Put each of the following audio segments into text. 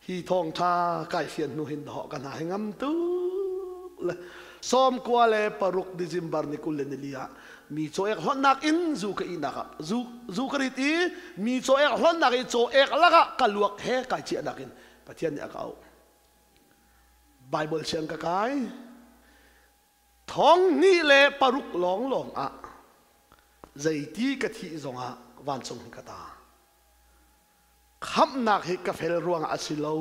Hi thawngtha kaifian hnu hin hawh kan ha hi ngam tu le sawmkua le paruk December ni kul le nili ah mi cawek hlonnak in zu ka inak ah zu zu ka rit i mi cawek hlonnak i cawek lakah ka luak he kai ciahnak in Pathian nih a ka auh Bible siang ka kai thong ni le paruk lawng lawng ah zeiti ka thih zongah vancung hin ka ta khamhnak hi ka fel ruangah a si lo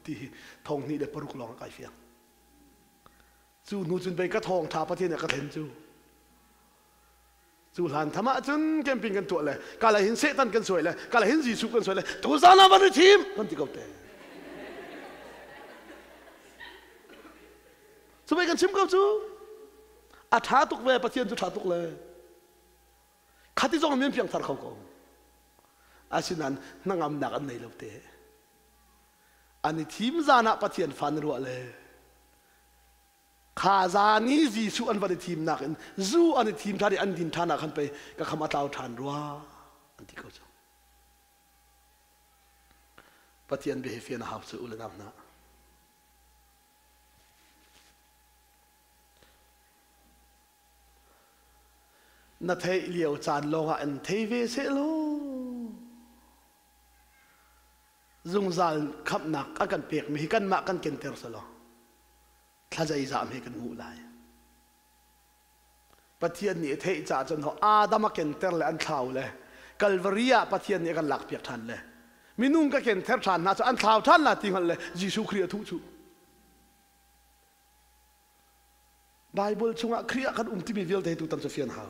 ti hi thong hnih le paruk lawng kai fiang cu hnu cun pei ka thong tha pathian a ka then cu cu hlan tham ah cun camping kan tuah le kala hin setan kan suai le kala hin jesuh kan suai le tu zan ah van i thim kan ti ko te cu pei kan chim ko cu a tha tuk ve pathian cu tha tuk le khati zong men piangthar kho ko asinain hnangamnak an nei lo te an i thim zan ah pathian fa na ruah le kha zan i jesuh an van i thim nak in zu an i thim ṭhan i an din ṭhan ah khan pei ka kham a tlau ṭhan rua an ti ko cu pathian bia he fian a hau cu ule nam hna Na theih lio caan lawngah in thei ve seh law zungzal khamnak a kan pekmi hi kanmah kan kenter selaw thlazei zam hi kan hmuh lai pathian nih a theih caah cun ho adam a kenter le an thlau le kalvari ah pathian nih a kan lak piak ṭhan le minung ka kenter ṭhan hna cu an thlau ṭhan la ti hngal le jesuh khrih a thuh chuh Baibal chungah Khrih ah kan um timi vialte tu tam cu fian hau.